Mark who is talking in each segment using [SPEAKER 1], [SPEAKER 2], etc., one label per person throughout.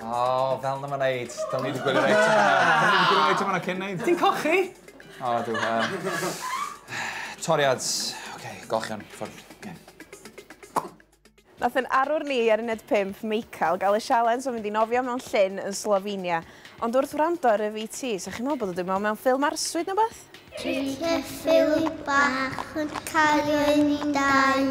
[SPEAKER 1] O, fel na
[SPEAKER 2] ma'n neud. Do'n i wedi gwylio reit yma. Do'n i wedi gwylio reit yma na cyn neud. Ti'n cochi?
[SPEAKER 3] O, dw.
[SPEAKER 2] Toriad. Oce, golchion. Ffwrdd.
[SPEAKER 1] Nath yn arwr ni ar uned 5, Meical, gael y sialens o fynd i nofio mewn llyn yn Slovenia. Ond wrth wrando ar y VT, sa chi'n meddwl bod o dim ond mewn ffilm arswyd neu beth? Dwi'n
[SPEAKER 4] ffilm bach yn cario i ni dau.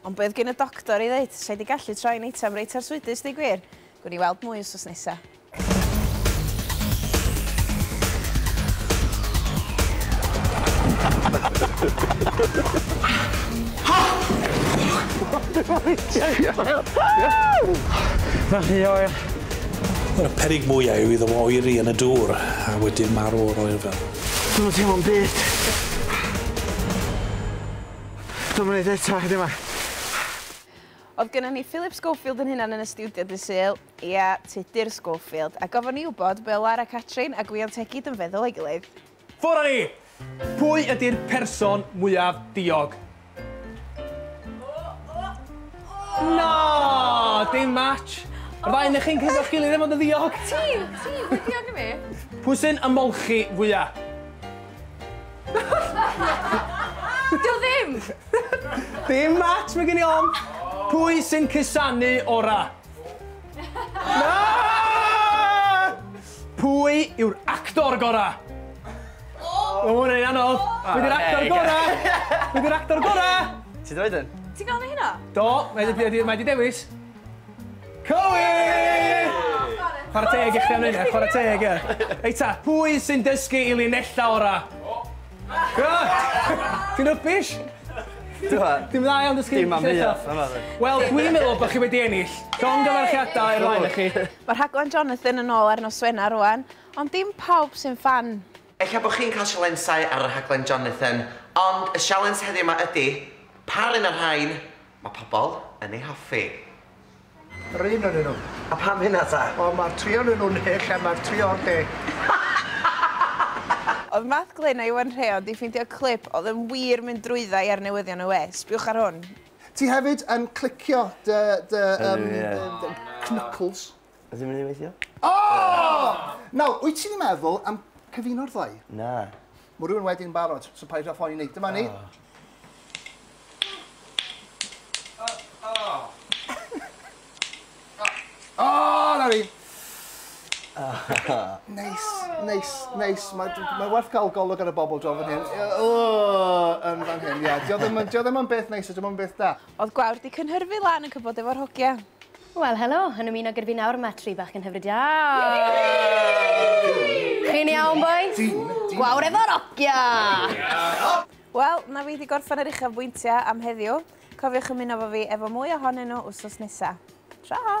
[SPEAKER 1] Ond be oedd gin y doctor i ddeud? Sa i 'di gallu troi'n eitem reit arswydus, deu gwir. Gwn i weld mwy wsos nesa.
[SPEAKER 3] Mae'n rhy oer. Y
[SPEAKER 5] perig mwyaf yw iddo fo oeri yn y dŵr a wedyn marw o'r oerfel. Dwi'm yn teimlo'm
[SPEAKER 3] byd. Dwi'm yn neud o eto, yndi Mam?
[SPEAKER 1] O'dd gynnon ni Philip Schofield 'yn hunan yn y stiwdio dydd Sul, ia, Tudur Schofield, a gofon ni wbod be' o' Lara Catrin a Gwion Tegid yn feddwl o'i gilydd. Ffwr' â ni!
[SPEAKER 3] Pwy ydi'r person mwyaf diog? Na! Dim match! Yr ddau o'noch chi'n cytuno'ch gilydd am fod yn ddiog! Ti! Ti! Mwy diog
[SPEAKER 6] na fi! Pwy sy'n
[SPEAKER 3] ymolchi fwya?
[SPEAKER 6] Di o ddim! Dim
[SPEAKER 3] match, mae gen i ofn. Pwy sy'n cusanu ora? Na! Pwy yw'r actor gora? O, mae hwnna'n anodd. Pwy yw'r actor gora? Pwy yw'r actor gora? Ti droed yn?
[SPEAKER 6] Ti'n gael ni hynna? Do,
[SPEAKER 3] mae di dewis. Cywir! Chwarae teg i chdi am hynna, chwarae teg, ie. Reit ta, pwy sy'n dysgu i linella orau? Ti'n rubbish! Dim dda iawn dysgu linella. Dim am hynna, na fe.
[SPEAKER 7] Wel, dwi'n
[SPEAKER 3] meddwl bod chi wedi ennill. Llongyfarchiadau i'r ddau ohonoch chi. Mae rhaglen Jonathan
[SPEAKER 1] yn ôl ar nos Wener rŵan, ond dim pawb sy'n ffan. Ella bod chi'n cael
[SPEAKER 8] sialensau ar rhaglen Jonathan, ond y sialens heddiw 'ma ydy, pa run o'r rhain Mae pobl yn ei hoffi.
[SPEAKER 9] Yr un o'nyn nhw. A pam hynna ta?
[SPEAKER 8] Wel mae'r tri o'nyn nhw'n
[SPEAKER 9] hyll a mae'r tri o'r de.
[SPEAKER 1] Oedd Math Glyn a Iwan Rheon 'di ffeindio clip oedd yn wir mynd drwydda i ar newyddion y we? Sbiwch ar hwn. Ti hefyd yn
[SPEAKER 9] clicio dy dy yym dy knuckles. Ydw i'n mynd i weithio?
[SPEAKER 7] O!
[SPEAKER 9] Nawr, wyt ti'n meddwl am cyfuno'r ddau? Na. Mae
[SPEAKER 7] rhywun wedi'n
[SPEAKER 9] barod, so paid â phoeni. Dyma ni. O, na ni. Neis, neis, neis. Mae ma werth cael golwg ar y bobl dro fan hyn. O, yn fan hyn, ia. Dio ddim yn beth neis, dio ddim yn beth da. Oedd gwawr di cynhyrfu
[SPEAKER 1] lan yn cybod efo'r hogia. Wel helo,
[SPEAKER 6] yn ymuno gyda fi nawr mae tri bachgen hyfryd da! Chi'n iawn bois? Gwawr efo'r ogia!
[SPEAKER 1] Wel, na fi wedi gorffen yr uchafbwyntiau am heddiw. Cofiwch ymuno efo fi efo mwy ohonyn nhw wsos nesa. Tra!